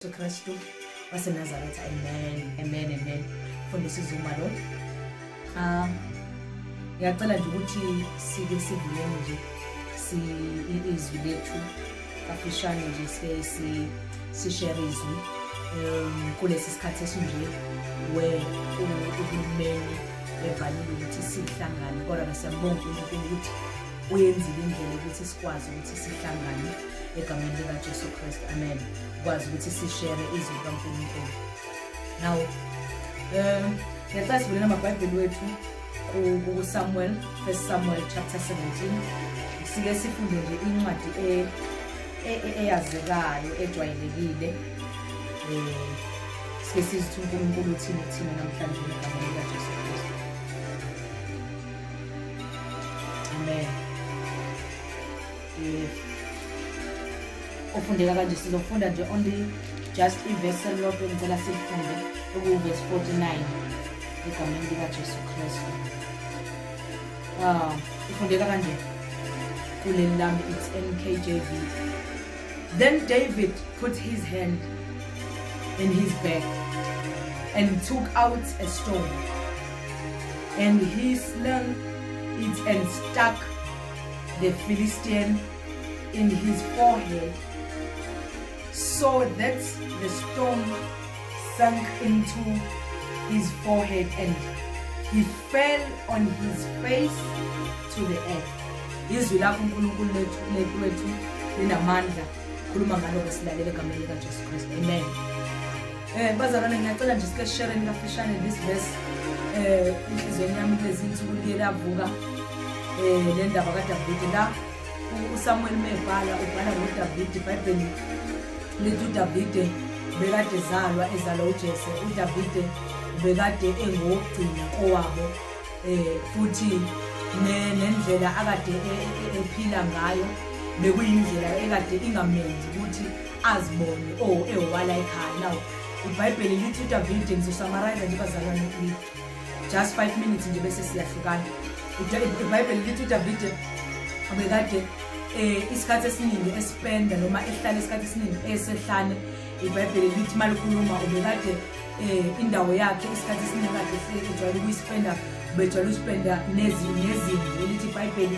Jesu Kristu waseNazaretha. Amen, amen, amen. Mfundisi Zuma lo. Ah, ngiyacela nje ukuthi sike sivuleni nje si izwi lethu kafishane nje sike si sishare izwi um kulesi sikhathi esinje we uhulumeni evalile ukuthi sihlangane kodwa ke siyambonga uNkulunkulu ukuthi uyenzile indlela ukuthi sikwazi ukuthi sihlangane egameni likaJesu Kristu amen ukwazi ukuthi sishere izwi likaNkulunkulu now um ngicela sivulele amabhayibheli wethu kusamuel first samuel chapter 17 sike sifunde nje incwadi e, e, e, eyazekayo ejwayelekile um sike sizithi unkulunkulu uthini kuthina namhlanje ngegama likajesu kristu amen ofundeka kanje sizofunda nje only just ivesi elilodwa engicela silifunde okuwuvesi 49 egameni likajesu kristu um ah, ifundeka kanje kuleli lami it's nkjv then david put his hand in his back and took out a stone and he slung it and stuck the Philistine in his forehead. So that the stone sank into his forehead and he fell on his face to the earth. Izwi lakho uNkulunkulu lethu lethu lethu linamandla. Khuluma ngalo ngesilalele egameni likaJesu Kristu. Amen. Eh bazalwane ngiyacela nje sike share nilafishane this verse eh inhlizweni yami kulezi insuku liye lavuka eh le ndaba kaDavide la uSamuel mebhala ubhala ngoDavide iBhayibheli lithi uDavide bekade zalwa ezalwa uJese uDavide bekade engokugcina kowabo eh futhi nendlela akade e, e, e, ephila ngayo bekuyindlela ekade ingamenzi ukuthi azibone o oh, ehowala ekhaya naw ibhayibheli lithi udavide ngizosamarayiza nje bazalwane kini just five minutes nje bese siyahlukana ibhayibheli lithi udavide ubekade um isikhathi esiningi esipenda noma ehlale isikhathi esiningi esehlane ibhayibheli lithi malikhuluma ubekade um indawo yakhe isikhathi esiningi kade ejwayele ukuyisipenda ubejwayele usipenda nezimvu elithi ibhayibheli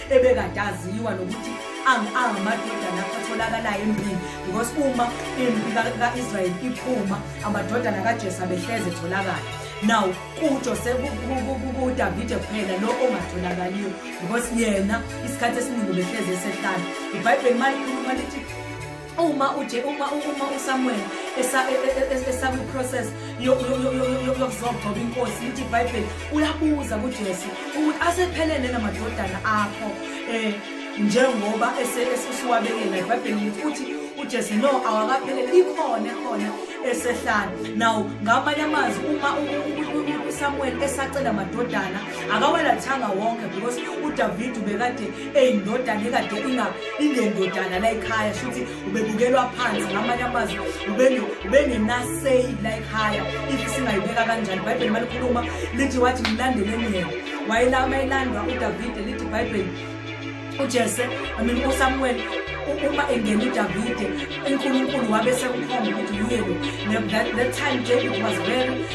ebekade aziwa nokuthi angamadodana atholakalayo empini because uma impi ka-israyeli iphuma amadodana kajesa behleze etholakala now kujose kudavide kuphela lo ongatholakaliyo because yena isikhathi esiningi behleze esehlala ibhayibheli malikhuluma lithi uma uje uma uma uSamuel e, e, e, esaku process yokuzogcoba inkosi lithi iBhayibheli uyabuza kuJesu ukuthi asephelele namadodana akho eh njengoba esesuwabekela iBhayibheli ukuthi uJesu no awakaphelele ikhona khona esehlala now ngamanye amazwi uma uSamuel esacela amadodana akawalathanga wonke because uDavid ubekade eyindodana ekade inga ingendodana la ekhaya shuthi ubebukelwa phansi ngamanye amazwi ubengenaseyi la ekhaya if singayibeka kanjani ibhayibheli malikhuluma lithi wathi mlandeleni yena wayelama elandwa udavide lithi ibhayibheli ujese i mean usamuweli uma engena udavide unkulunkulu wabe sekukhomba ukuthi uyelo that time david was very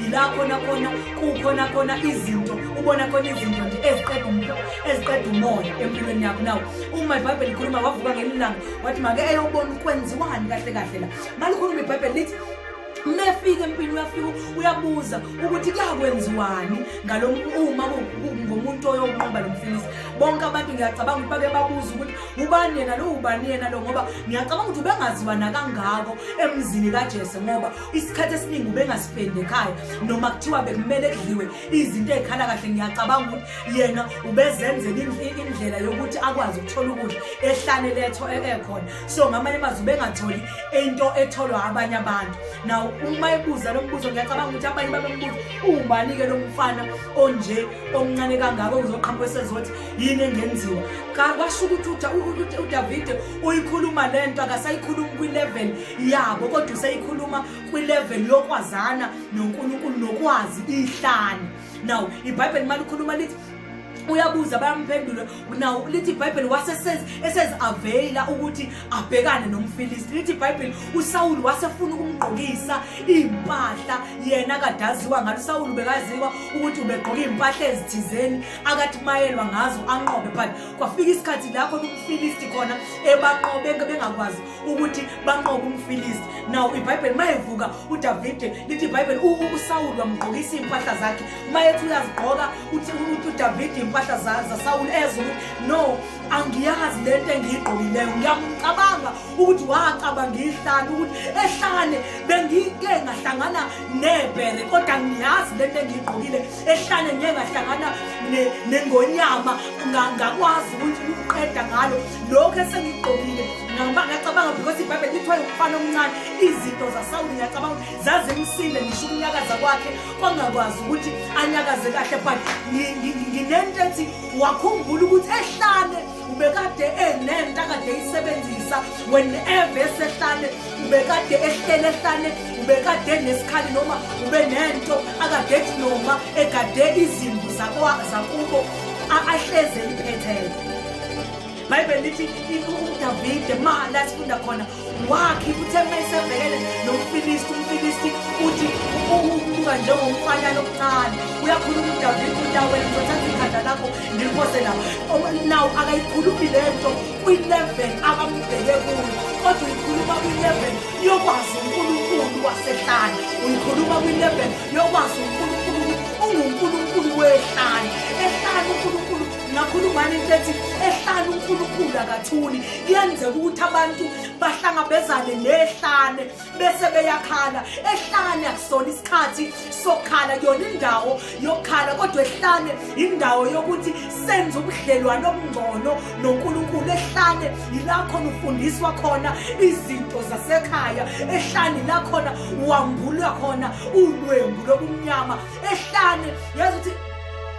yila khona khona kukhona khona izinto ubona khona izinto nje eziqeda umlo eziqeda umoya empilweni yakho nawo uma ibhayibheli likhuluma wavuka ngelinye ilanga wathi make eyobona ukwenziwani kahle kahle la malikhuluma ibhayibheli lithi mefika empini uyafika uyabuza ukuthi kuyakwenziwani ngalo uma ngomuntu oyonqoba lo mfilisi bonke abantu ngiyacabanga ukuthi bake babuza ukuthi ubani yena lo ubani yena lo ngoba ngiyacabanga ukuthi ubengaziwa nakangako emzini kajesu ngoba isikhathi esiningi ubengasifendi ekhaya noma kuthiwa bekumele kudliwe izinto ey'khala kahle ngiyacabanga ukuthi yena ubezenzela indlela yokuthi akwazi ukuthola ukudla ehlane letho e-, ekhona so ngamanye amazwi ubengatholi into etholwa abanye abantu naw uma ebuza lo mbuzo ngiyacabanga ukuthi abanye babembuza uwubani-ke lo mfana onje omncane kangako kuzoqhamuka esezothi yini engenziwa kwasho ukuthi udavide uyikhuluma le nto akasayikhulumi kwi-level yabo kodwa useyikhuluma kwilevel yokwazana nonkulunkulu nokwazi ihlani now ibhayibheli mali ukhuluma lithi uyabuza bayamphendula nawo lithi ibhayibheli waseseziaveyila ukuthi abhekane nomfilisti lithi ibhayibheli usawuli wasefuna ukumgqokisa iy'mpahla yena kade aziwa ngalo usawuli ubekaziwa ukuthi ubegqoka iy'mpahla ezithizeni akathi mayelwa ngazo anqobe but kwafika isikhathi lapho umfilisti khona ebaqobe bengakwazi ukuthi banqobe umfilisti naw ibhayibheli uma evuka udavide lithi ibhayibheli usawuli wamgqokisa iy'mpahla zakhe uma ethi uyazigqoka uthi udavide iy'mpahla zasawuli ezwe ukuthi no angiyazi le nto engiyigqokileyo ngiyamcabanga ukuthi wacabanga ihlane ukuthi ehlane bengike ngahlangana nebhere kodwa ngiyazi le nto engiyigqokile ehlane ngeke ngahlangana nengonyama ngakwazi ukuthi ukuqeda ngalo lokho esengigqokile ngoba ngiyacabanga because ibhayibheli lithi wayewumfana omncane izinto zasawuli ngiyacabanga ukuthi zazimsile ngisho ukunyakaza kwakhe kwangakwazi ukuthi anyakaze kahle but nginento ethi wakhumbula ukuthi ehlane ubekade enento akade eyisebenzisa whenever esehlane ubekade ehlele ehlane ubekade enesikhali noma ube nento akade ethi noma egade izimbu zakubo ahleze liphethe ibhayibheli lithi udavide mala sifunda khona wakhe kuthe uma esebhekene nomfilisti umfilisti uthi ubuka njengomfanyana omncane uyakhuluma udavide untaweni ngizothatha ikhanda lakho ngiliphose la nawu akayikhulumi le nto kwi-level abambheke kuyo kodwa uyikhuluma kwi-level yokwazi unkulunkulu wasehlane uyikhuluma kwi-level yokwazi unkulunkulu ungunkulunkulu wehlane ehlane unkulunkulu ngakhulumani into ethi ehlane unkulunkulu akathuli kuyenzeka ukuthi abantu bahlangabezane nehlane bese beyakhala ehlane akusona isikhathi sokukhala kuyona indawo yokukhala kodwa ehlane indawo yokuthi senze ubudlelwane obungcono nonkulunkulu ehlane yilakhona ufundiswa khona izinto zasekhaya ehlane lakhona wambulwa khona ulwembu lobumnyama ehlane yazi ukuthi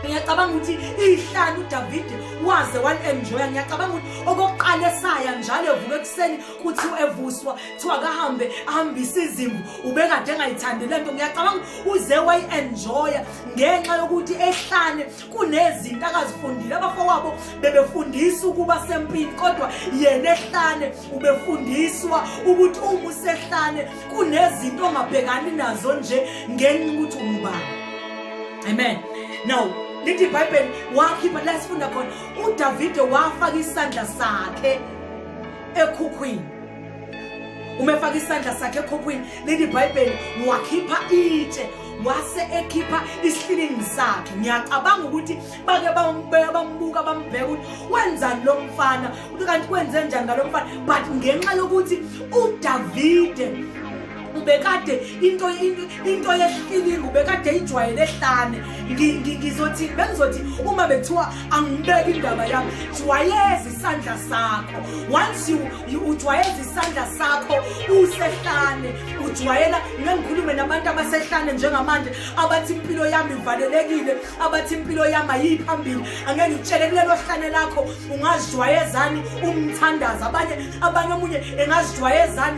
ngiyacabanga ukuthi ihlanu udavide waze wali-enjoya ngiyacabanga ukuthi okokuqala esaya njalo evuka ekuseni kuthi evuswa kuthiwa kahambe ahambise izimvu ubekade engayithandi le nto ngiyacabanga uze wayi-enjoya ngenxa yokuthi ehlane kunezinto akazifundile abafowabo bebefundisa ukuba sempini kodwa yena ehlane ubefundiswa ukuthi uma usehlane kunezinto ongabhekani nazo nje ngenxa ukuthi ungubani amen now lithi ibhayibheli wakhipha la sifunda khona uDavide wafaka isandla sakhe ekhukhwini uma efaka isandla sakhe ekhukhwini leli bhayibheli wakhipha itshe wase ekhipha isihlilini sakhe ngiyacabanga ukuthi bake bambeka bambuka bambheka ukuthi wenzani lo mfana kanti kwenze njani ngalo mfana but ngenxa yokuthi udavide ubekade into into yehlilinga ubekade ijwayele ehlane ngizothi bengizothi uma bethiwa angibeke indaba yami jwayeza isandla sakho once you ujwayeza isandla sakho usehlane ujwayela ngengikhulume nabantu abasehlane njengamanje abathi impilo yami ivalelekile abathi impilo yami ayiphambili angeke ngitshele kulelo hlane lakho ungazijwayezani umthandaza abanye abanye omunye engazijwayezani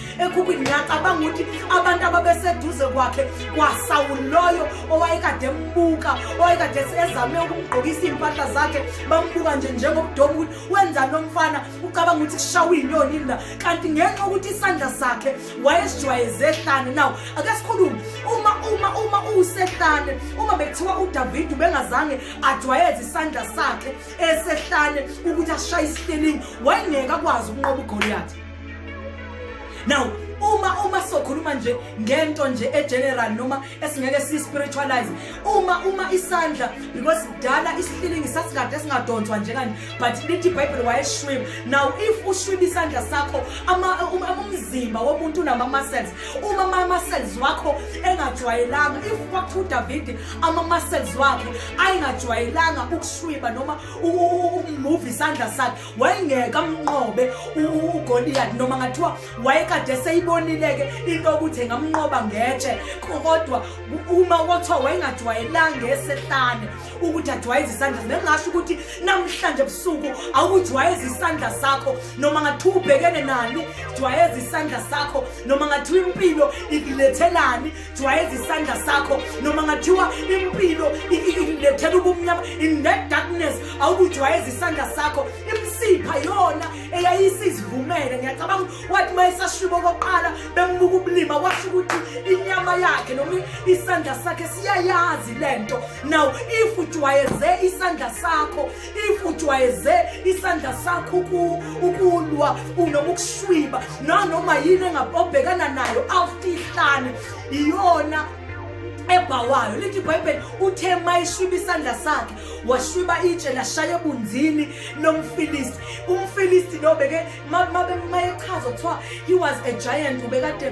ekhukhwini ngiyacabanga ukuthi abantu ababeseduze kwakhe kwasawuloyo owayekade embuka owayekade ezame ukumgqokisa iy'mpahla zakhe bambuka nje njengobudoma ukuthi wenzani lomfana ucabanga ukuthi kushawa iy'nyoni na kanti ngenxa ukuthi isandla sakhe wayesijwayeze ehlane naw ake sikhulume uma uma uma uwusehlane uma bekuthiwa udavide ubengazange ajwayeze isandla sakhe esehlane ukuthi ashaye isihlelini wayengeke akwazi ukunqoba ugoliyathi now uma uma sokhuluma nje ngento nje egeneral noma esingeke si spiritualize uma uma isandla because dala isihlilingi sasikade singadonswa nje kanje but lithi bible wayeshwib now if ushwib isandla sakho ama umzimba womuntu unama muscles uma ama muscles wakho engajwayelanga if kwakuthiwa uDavid ama muscles wakhe ayengajwayelanga ukushwiba noma ukumove isandla sakhe wayengeke amnqobe ugoliyati noma ngathiwa wayekade seyibonile-ke into yokuthi engamnqoba ngetshe kodwa uma kwathiwa wayengajwayelanga esehlane ukuthi ajwayeze isandla bengasho ukuthi namhlanje ebusuku awukujwayeza isandla sakho noma ngathiwa ubhekene nani jwayeza isandla sakho noma ngathiwa impilo ikulethelani jwayeza isandla sakho noma ngathiwa impilo ilethela ubumnyama in that darkness awukujwayeza isandla sakho imsipha yona eyayisizivumele ngiyacabanga wathi uma esashibo kokuqala bembuka ubulima washo ukuthi inyama yakhe noma isandla sakhe siyayazi le nto now if ujwayeze isandla sakho if ujwayeze isandla sakho ukulwa noma ukushwiba nanoma yini obhekana nayo awufihlane iyona ebhawayo lithi ibhayibheli uthe mayishwiba isandla sakhe washwiba itshe lashaya ebunzini nomfilisti umfilisti lo beke mayechaza kuthiwa he was a giant ubekade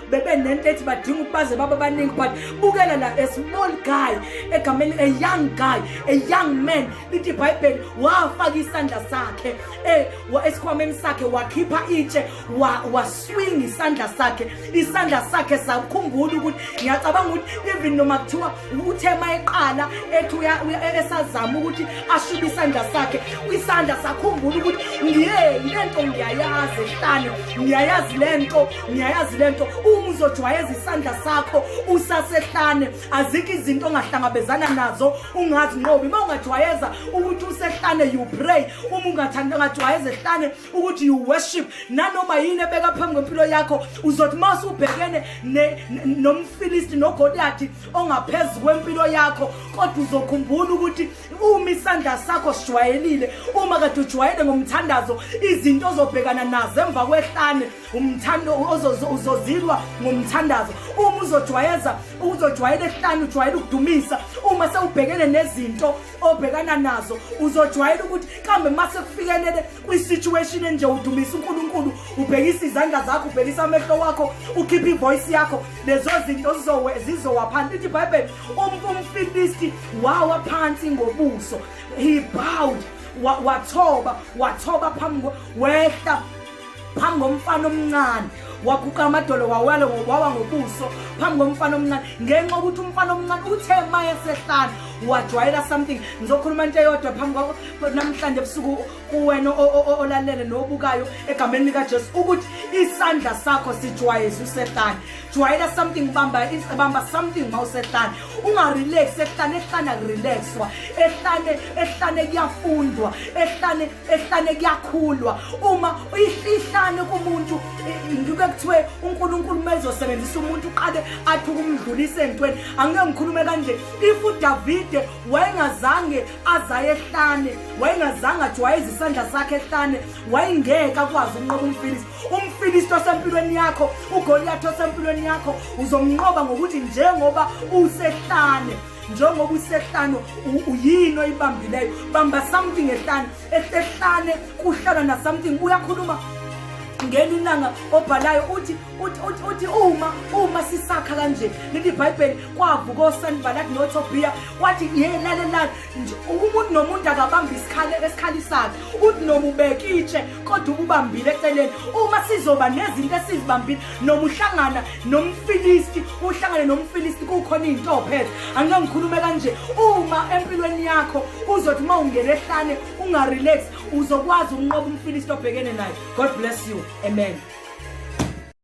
bebe nento ethi badinga ukubaze baba baningi but bukela la a small guy egameni a young guy a young man lithi ibhayibheli wafaka isandla sakhe eh, esikhwameni sakhe wakhipha itshe waswinga isandla sakhe isandla sakhe sakhumbula ukuthi ngiyacabanga ukuthi even noma kuthiwa uthema eqala ethi esazama ukuthi ashibe isandla sakhe isandla sakhumbula ukuthi ngiyeni le nto ngiyayazi hlane ngiyayazi le nto ngiyayazi le nto uma uzojwayeza isandla sakho usasehlane azikho izinto ongahlangabezana nazo ungazinqobi uma ungajwayeza ukuthi usehlane you pray uma ungathanda ungajwayeza ehlane ukuthi you worship nanoma yini ebeka phambi kwempilo yakho uzothi uma usubhekene nomfilisti nogoliyathi ongaphezu kwempilo yakho kodwa uzokhumbula ukuthi uma isandla sakho sijwayelile uma kade ujwayele ngomthandazo izinto ozobhekana nazo emva kwehlane umthando uzozilwa ngomthandazo uma uzojwayeza uzojwayela ehlani ujwayela ukudumisa uma sewubhekene nezinto obhekana nazo uzojwayela ukuthi kambe uma sekufikelele kwi-situation enje udumisa unkulunkulu ubhekisa izandla zakho ubhekisa amehlo wakho ukhiphe ivoyisi yakho lezo zinto zizowa phansi lithi ibhayibheli umfilisti wawa phansi ngobuso he bowed wathoba wathoba phambi wehla phambi komfana omncane waguqa amadolo wawele wawa ngobuso phambi komfana omncane ngenxa ukuthi umfana omncane uthe ma esehlala wajwayela something ngizokhuluma into eyodwa phambi kwakho namhlanje ebusuku kuwena olalele nobukayo egameni likajesu ukuthi isandla sakho sijwayeze usehlane jwayela something bamba bamba something ma usehlane ungarelax ehlane ehlane akurelaxwa ehlane ehlane kuyafundwa ehlane ehlane kuyakhulwa uma uyihlane kumuntu ngike kuthiwe uNkulunkulu mezosebenzisa umuntu uqale athi ukumdlulisa entweni angeke ngikhulume kanje if uDavide wayengazange azaye ehlane wayengazange athi wayeza isandla sakhe ehlane wayengeke akwazi ukunqoba umfilisi umfilisi osempilweni yakho ugoliyathi osempilweni yakho uzomnqoba ngokuthi njengoba usehlane njengoba usehlane uyini oyibambileyo bamba something ehlane ehlane kuhlala na something uyakhuluma ngeni ilanga obhalayo uthi uthi uthi uthi uma uma sisakha kanje leli bible kwavuka osanibala kunotho beer wathi yena lelani nje umuntu nomuntu akabamba isikhali esikhali sakhe uthi nomubekitshe kodwa ubambile eceleni uma sizoba nezinto esizibambile noma uhlangana nomfilisti uhlangane nomfilisti kukhona into ophethe angike ngikhulume kanje uma empilweni yakho uzothi uma ungena ehlane ungarelax uzokwazi ukunqoba umfilisti obhekene naye god bless you amen